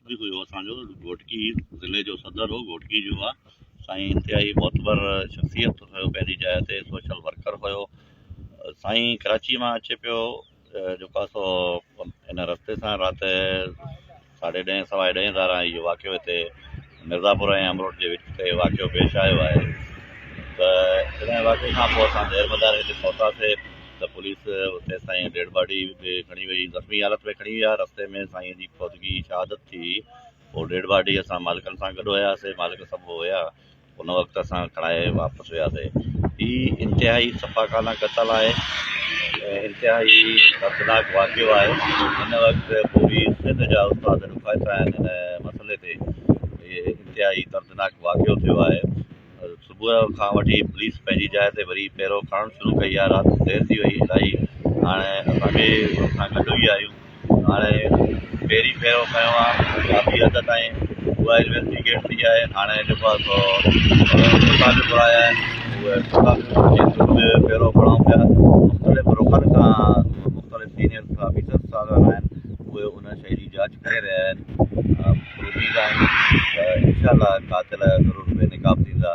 به هيو اسان جو گهوٽڪي ضلعي جو صدر هو گهوٽڪي جو آ سائين انتهائي معتبر شخصيت هيو پنهنجي جاء تي سوشل ورڪر هيو سائين ڪراچي مان اچي پيو جيڪو آ سو ان رستي سان رات ساڍي ڏهين سوائي ڏهين ڌاران اهو واقعو هتي مرزاپور ۽ امروٽ جي وچ تي واقعو پيش آيو آهي ته جڏهن واقعي کان پوء اسان دير مدار هتي پهتاسي ته پوليس اتي سائين ڊيڊ باڊي به کڻي وئي زخمي حالت ۾ کڻي ويا رستي ۾ سائين جي فوتگي شهادت ٿي هئي پوء ڊيڊ باڊي اسان مالڪن سان گڏ هياسي مالڪ سڀ هيا ان وقت اسان کڻائي واپس هي انتهائي سفاڪانه قتل آهي، انتهائي دردناڪ واقعو آهي، هن وقت پوري سنڌ جا استاد ڏکائتا آهن، هن مسئلي تي هي انتهائي دردناڪ واقعو ٿيو آهي، صبح کان وٺي پوليس پنهنجي جاء تي وري پهرو کڻڻ شروع ڪئي آهي، رات دير ٿي وئي الائي هاڻي اسان به هن سان گڏ ئي آهيون. هاڻي پهرين ڀيرو کنيو آ ڪافي حد تائين اها انويسٽيگيٽ ٿي آهي هاڻي جيڪو آ سو پيسا به گهرايا آهن اهي پيسا به ڪيس ۾ به ڀيرو کڻائون پيا مختلف رخن کان مختلف سينيئر آفيسر صاحب آهن اهي ان شيء جي جاچ ڪري رهيا آهن اميد آهن ته انشاء الله قاتل ضرور بي نقاب ٿيندا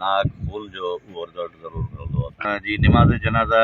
ناحق خون جو اهو رزلٽ ضرور ملندو اسان جي نماز جنازه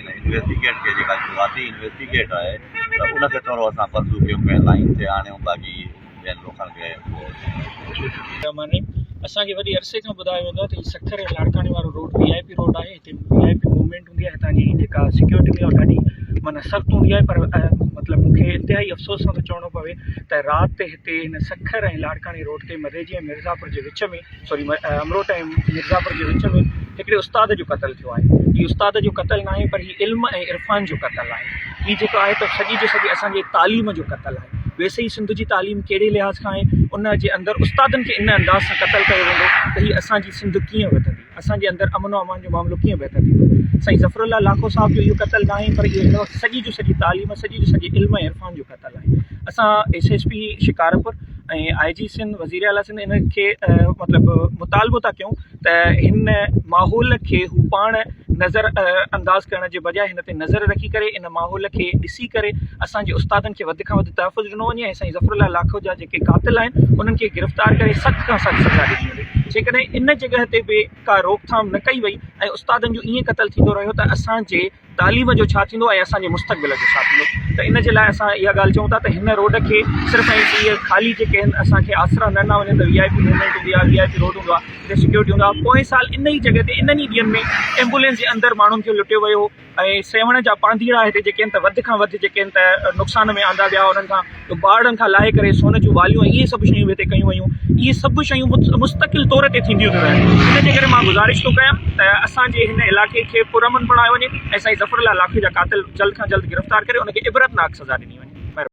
انويسٽيگيٽ کي جيڪا شروعاتي انويسٽيگيٽ آهي ته ان کي ٿورو اسان پرزو ڪيون ڪنهن لائين تي آڻيون باقي ٻين لوڪن کي اهو معني اسان کي وڏي عرصي کان ٻڌايو ويندو آهي ته هي سکر ۽ لاڙڪاڻي وارو road V I P road آهي هتي وي آء پي موومينٽ هوندي آهي هتان جي جيڪا سيڪيورٽي هوندي آهي ڏاڍي معنيٰ سخت هوندي آهي پر مطلب مون کي انتهائي افسوس سان ٿو چوڻو پوي ته رات تي هتي هن سکر ۽ لاڙڪاڻي روڊ تي مديجي ۽ مرزا پور جي وچ ۾ سوري امروهه ۽ مرزاپور جي وچ ۾ هڪڙي استاد جو قتل ٿيو آهي هي استاد جو قتل ناهي پر هي علم ۽ عرفان جو قتل آهي هي جيڪو آهي ته سڄي جي سڄي اسانجي تعليم جو قتل آهي ويسي هي سنڌ جي تعليم ڪهڙي لحاظ کان آهي ان جي اندر استادن کي ان انداز سان قتل ڪيو ويندو ته هي اسانجي سنڌ ڪيئن وڌندي اسانجي اندر امن و امان جو معاملو ڪيئن بهتر ٿيندو سائين ظفرالله لاکو صاحب جو اهو قتل ناهي پر اهو هن وقت سڄي جي سڄي تعليم سڄي جي سڄي علم ۽ عرفان جو قتل ٿا لاهين اسان S S P Shikarpur ۽ I G Sindh وزير اعليٰ سنڌ ان کي مطلب مطالبو ٿا ڪيون ته هن ماحول کي هو پاڻ نظر انداز ڪرڻ جي بجاء هن تي نظر رکي ڪري ان ماحول کي ڏسي ڪري اسانجي استادن کي وڌ کان وڌ تحفظ ڏنو وڃي ۽ سائين ظفر الله لاکو جا جيڪي قاتل آهن انهن کي گرفتار ڪري سخت کان سخت سزا ڏني وڃي جيڪڏهن ان جڳهه تي به ڪا روڪٿام نه ڪئي وئي ۽ استادن جو ائين قتل ٿيندو رهيو ته اسانجي تعليم جو ڇا ٿيندو ۽ اسان جي مستقبل جو ڇا ٿيندو ته ان جي لاء اسان اها ڳالهه چئون ٿا ته هن روڊ کي صرف ۽ صرف اهي خالي جيڪي آهن اسان کي آسرا نه ڏنا وڃن ته وي آء پي موومينٽ هوندي آهي وي آء پي روڊ هوندو آهي اتي سيڪيورٽي هوندو آهي پوئين سال ان ئي جڳهه تي انهن ئي ڏينهن ۾ ايمبولينس جي اندر ماڻهن کي لٽيو ويو هو ۽ سيوهڻ جا پانڌيئڙا هتي جيڪي آهن ته وڌ کان وڌ جيڪي آهن ته نقصان ۾ آندا ويا انهن کان ٻارڙن کان لاهي ڪري سون جون واليون ۽ اهي سڀ شيون به هتي ڪيون ويون. اهي سڀ شيون مستقل طور تي ٿينديون ٿيون رهن. ان جي ڪري مان گذارش ٿو ڪيان ته اسان جي هن علائقي کي پرامن بڻايو وڃي ۽ سائين ظفر الله لاکي جا قاتل جلد کان جلد گرفتار ڪري ان کي عبرتناڪ سزا ڏني وڃي. مهرباني.